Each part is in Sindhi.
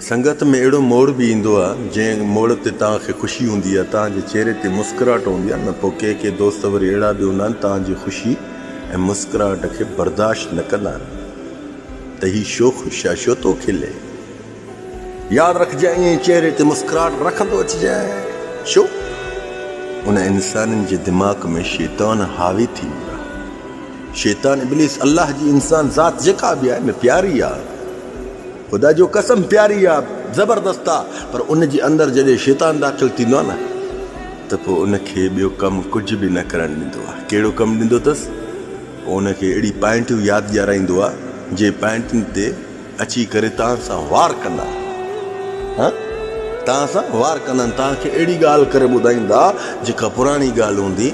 سنگت ۾ اهڙو موڙ به ايندو آهي، جنهن موڙ تي توهان کي خوشي هوندي آهي، توهان جي چهري تي مسڪراهٽ هوندي آهي نه پوء ڪي ڪي دوست وري اهڙا به هوندا آهن توهان جي خوشي ۽ مسڪراهٽ کي برداشت نه ڪندا آهن ته هي شو خوش آهي شو ٿو کلي ياد رکجانء ائين چهري تي مسڪراهٽ رکندو اچجانء شو ان انسان جي دماغ ۾ شيطان حاوي ٿي ويو آهي شيطان ابليس الله جي انسان ذات جيڪا به آهي نه پياري آهي. خدا جو قسم پياري آ زبردست آ پر ان جي اندر جڏهن شيطان داخل ٿيندو آ نه ته پوء ان کي ٻيو ڪم ڪجهه به نه ڪرڻ ڏيندو آ ڪهڙو ڪم ڏيندو اٿس پوء ان کي اهڙي پائنٽيون ياد ڏيارائيندو آ جي پائنٽين تي اچي ڪري توهان سان وار ڪندا ها توهان سان وار ڪندا توهان کي اهڙي ڳالهه ڪري ٻڌائيندا جيڪا پراڻي ڳالهه هوندي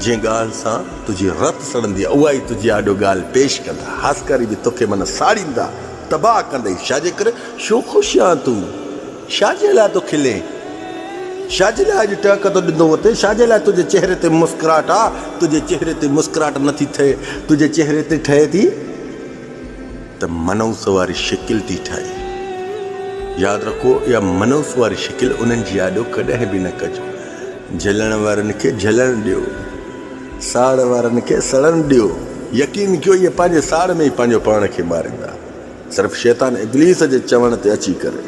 جنهن ڳالهه سان تنهنجي رت سڙندي آ اها ئي تنهنجي آڏو ڳالهه پيش ڪندا هاسڪاري به توکي من ساڙيندا تباهه ڪندئي شا جي ڪري شو خوش آن تون شا جي لاء ٿو کلين شا جي لاء اڄ ٽهڪ ٿو ڏندو وتين شا جي لاء تنهنجي چهري تي مسڪراهٽ آ تنهنجي چهري تي مسڪراهٽ نه ٿي ٺهي تنهنجي چهري تي ٺهي ٿي ته منحوس واري شڪل ٿي ٺهي ياد رکو اها منحوس واري شڪل انهن جي آڏو ڪڏهن به نه ڪجو جهلڻ وارن کي جهلڻ ڏيو ساڙ وارن کي سڙڻ ڏيو، يقين ڪيو اهي پنهنجي ساڙ ۾ ئي پنهنجو پاڻ کي ماريندا. صرف شيطان ابليس جي چوڻ تي اچي ڪري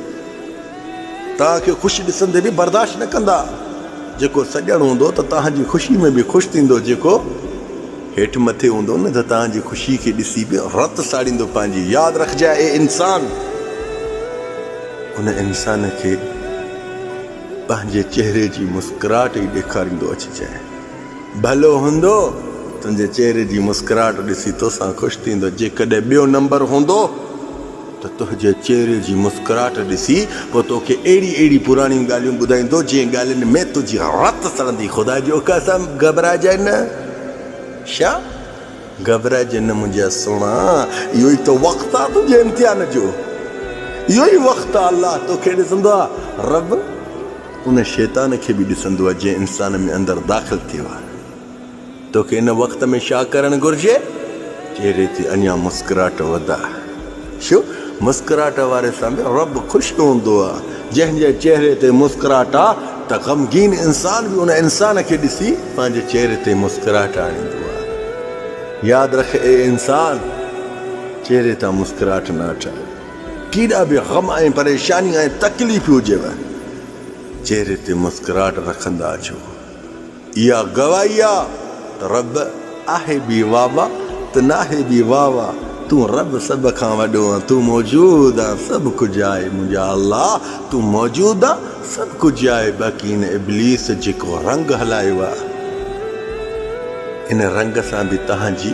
توهان کي خوش ڏسندي به برداشت نه ڪندا. جيڪو سڄڻ هوندو ته توهان جي خوشي ۾ به خوش ٿيندو جيڪو هيٺ مٿي هوندو نه ته توهان جي خوشي کي ڏسي به رت ساڙيندو پنهنجي. ياد رکجانء اي انسان! ان انسان کي پنهنجي چهري جي مسڪراهٽ ئي ڏيکاريندو اچجانء. ڀلو هوندو تنهنجي چهري جي مسڪراهٽ ڏسي توسان خوش ٿيندو جيڪڏهن ٻيو نمبر هوندو ته تنهنجي چهري جي مسڪراهٽ ڏسي پوء توکي اهڙي اهڙي پراڻيون ڳالهيون ٻڌائيندو جنهن ڳالهين ۾ تنهنجي رت سڙندي خدا جي قسم گهٻرائجي نه شا گهٻرائجي نه منهنجا سهڻا اهو ئي ته وقت آ تنهنجي امتحان جو اهو ئي وقت آ الله توکي ڏسندو آ رب ان شيطان کي به ڏسندو آهي جنهن انسان ۾ اندر داخل ٿيو آهي. توکي ان وقت ۾ شا ڪرڻ گهرجي؟ چهري تي اڃا مسڪراهٽ وڌاء. شو؟ مسڪراهٽ واري سان به رب خوش نه هوندو آهي. جنهن جي چهري تي مسڪراهٽ آهي ته غمگين انسان به ان انسان کي ڏسي پنهنجي چهري تي مسڪراهٽ آڻيندو آهي. ياد رک اي انسان! چهري تان مسڪراهٽ نه اٺائي. ڪيڏا به غم ۽ پريشانيون ۽ تڪليفون هجيو، چهري تي مسڪراهٽ رکندا اچو. اها گواهي آ ته رب آهي به واهه واهه ته ناهي به واهه واهه تون رب سڀ کان وڏو آن تون موجود آن سڀ ڪجهه آهي منهنجا الله تون موجود آن سڀ ڪجهه آهي باقي هن ابليس جيڪو رنگ هلايو آ ان رنگ سان به تهان جي